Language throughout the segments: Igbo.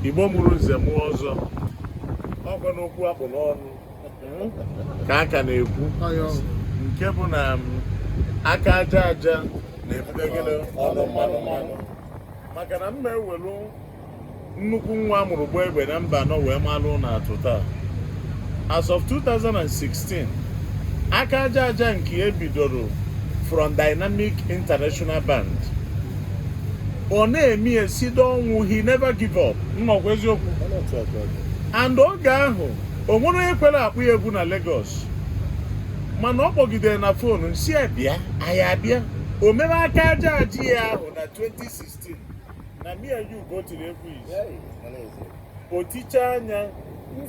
Igbo mụrụ nze mụọ ọzọ ọkwa n'okwu akpụ n'ọnụ ka a ka na-ekwu nke bụ na um, aka aja aja na-ebute gịnị ọnụ mmanụ mmanụ maka na ma e welu nnukwu nwa a mụrụ gbaa egbe na mba anọ wee malụ na atụ taa as of 2016 aka aja aja nke e bidoro from Dynamic International Band ọ na-eme ya sido ọnwụ he never give up nnọkwa eziokwu and oge ahụ o nwere onye kwere akpọ ya egwu na Lagos mana ọ kpọgidere na fonu m sị ya bịa anyị abịa o mere aka aja aja ya ahụ na 2016 na me and you go tiri egwu o ticha anya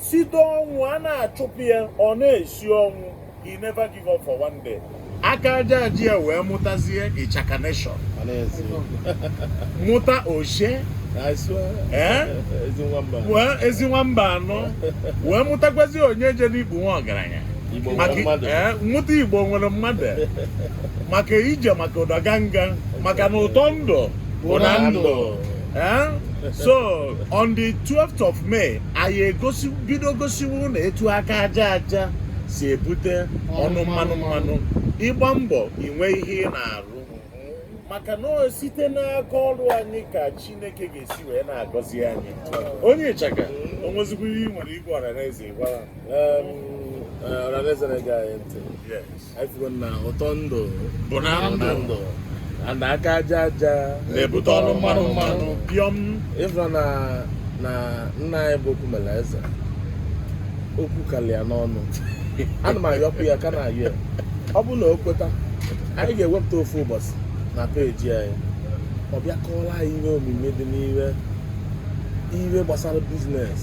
sido ọnwụ a na-achụpụ ya ọ na-esi ọnwụ He never give up for one day. aka aja aja ya wee mụtazie ịchaka nation mụta oshe eh? wee ezi nwa mba anọ wee mụtakwazi onye je n'Igbo nwa ọgaranya eh, mụta igbo nwere mmadụ maka ije maka ụdaganga maka na ụtọ ndụ bụ na ndụ eh? so on the 12th of May anyị egosi bido gosiwe unu etu aka aja aja si ebute ọnụ mmanụ mmanụ ịgba mbọ inwe ihe ị na-arụ maka na site n'aka ọrụ anyị ka chineke ga-esi wee na-agọzi anyị onye ịchaka o nwezikwa ihe ị nwere ịgwa ọranaeze gwara ọranaeze na-ege anyị ntị na aka aja aja na-ebute ọnụ mmanụ mmanụ pịọm ị fụrụ na na nna anyị bụ okwumela eze okwu kalịa n'ọnụ ana m ayọkwu ya ka na-ayọ ya ọ bụrụ na o kweta anyị ga-ewepụta ofu ụbọchị na peji anyị ọ bịa kọọla anyị ihe omimi dị n'ihe ihe gbasara biznes